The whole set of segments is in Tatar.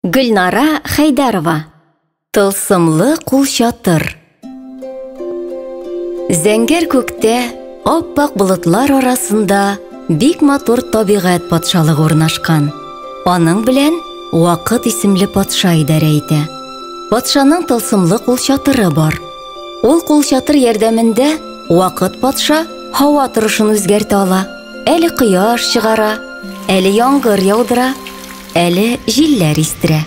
Гөлнара Хәйдәрова Тылсымлы кул чатыр Зәңгәр күктә аппак болытлар арасында бик матур табигать патшалыгы урнашкан. Аның белән Вакыт исемле патша идарә итә. Патшаның тылсымлы кул чатыры бар. Ул кул чатыр ярдәмендә Вакыт патша һава торышын үзгәртә ала. Әле кояш чыгара, әле яңгыр яудыра, әле җилләр истерә.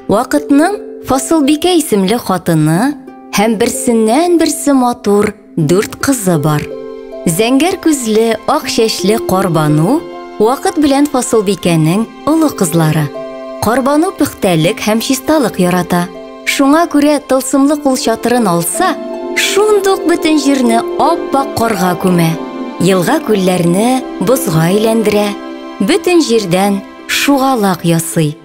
Вакытның Фасылбикә исемле хатыны һәм берсеннән-берсе матур дүрт кызы бар. Зәңгәр күзле, ак чәчле Карбану вакыт белән Фасылбикәнең олы кызлары. Карбану пөхтәлек һәм чисталык ярата. Шуңа күрә тылсымлы кул чатырын алса, шундук бөтен җирне ап-ак карга күмә, елга-күлләрне бозга әйләндерә, бөтен җирдән шугалак ясый.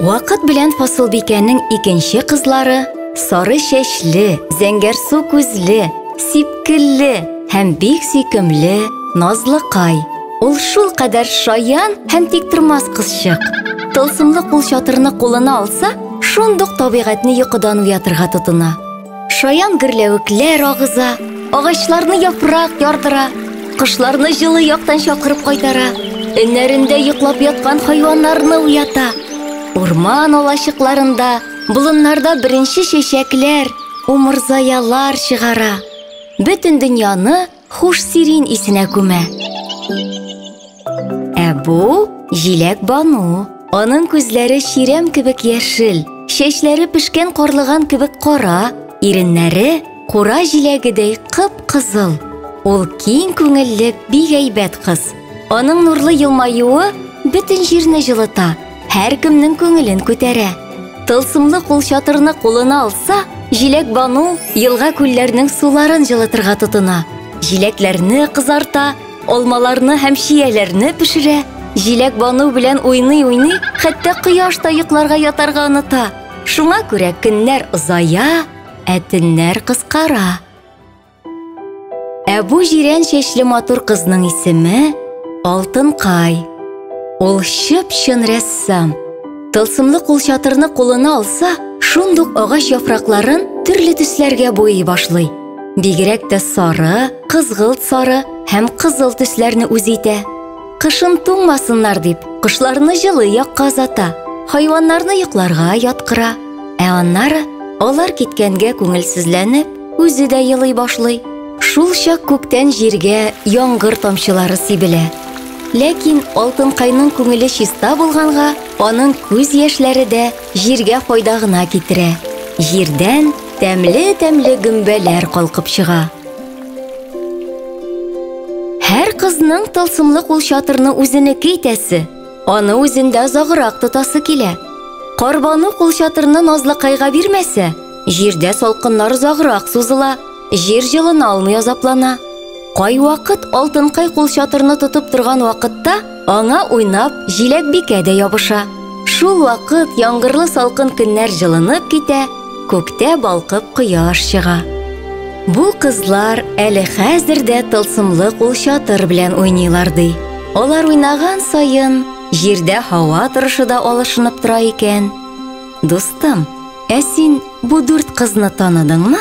Вакыт белән Фасылбикәнең икенче кызлары сары чәчле, зәңгәрсу күзле, сипкелле һәм бик сөйкемле Назлыкай, Ул шул кадәр шаян һәм тиктормас кызчык. Тылсымлы кул чатырны кулына алса, шундук табигатьне йокыдан уятырга тотына. Шаян гөрләвекләр агыза, агачларны яфрак ярдыра, кошларны җылы яктан чакырып кайтара, өннәрендә йоклап яткан хайваннарны уята. Урман алачыкларында, болыннарда беренче чәчәкләр, умырзаялар чыгара. Бөтен дөньяны Хуш сирин исенә күмә. Ә бу җиләк бану. Аның күзләре чирәм кебек яшел, чәчләре пешкән карлыган кебек кара, иреннәре кура җиләгедәй кып-кызыл. Ул киң күңелле, бик әйбәт кыз. Аның нурлы елмаюы бөтен җирне җылыта. Һәркемнең күңелен күтәрә. Тылсымлы кул чатырны кулына алса, Җиләк Бану елга күлләрнең суларын җылытырга тотына. Җиләкләрне кызарта, алмаларны һәм чияләрне пешерә. Җиләк Бану белән уйный-уйный, хәтта кояш та йокларга ятарга оныта. Шуңа күрә көннәр озая, ә төннәр кыскара. Ә бу җирән чәчле матур кызның исеме Алтынкай. Ул чып-чын рәссам. Тылсымлы кулчатырны кулына алса, шундук агач яфракларын төрле төсләргә буйый башлый. Бигрәк тә сары, кызгылт сары һәм кызыл төсләрне үз итә. Кышын туңмасыннар дип, кошларны җылы якка озата, хайваннарны йокларга яткыра. Ә аннары алар киткәнгә күңелсезләнеп, Үзе дә елый башлый. Шул чак күктән җиргә яңгыр тамчылары сибелә. Ләкин Алтынкайның күңеле чиста булганга, аның күз яшьләре дә җиргә файда гына китерә. Җирдән тәмле-тәмле гөмбәләр калкып чыга. Һәр кызның тылсымлы кул чатырны үзенеке итәсе, аны үзендә озаграк тотасы килә. Карбану кул чатырны Назлыкайга бирмәсә, Җирдә салкыннар озаграк сузыла, җир җылына алмый азаплана. Кайвакыт алтынкай кул чатырны тотып торган вакытта аңа уйнап җиләкбикә дә ябыша. Шул вакыт яңгырлы салкын көннәр җылынып китә, күктә балкып кояш чыга. Бу кызлар әле хәзер дә тылсымлы кул чатыр белән уйныйлар ди. Алар уйнаган саен җирдә һава торышы да алышынып тора икән. Дустым, Ә син бу дүрт кызны таныдыңмы?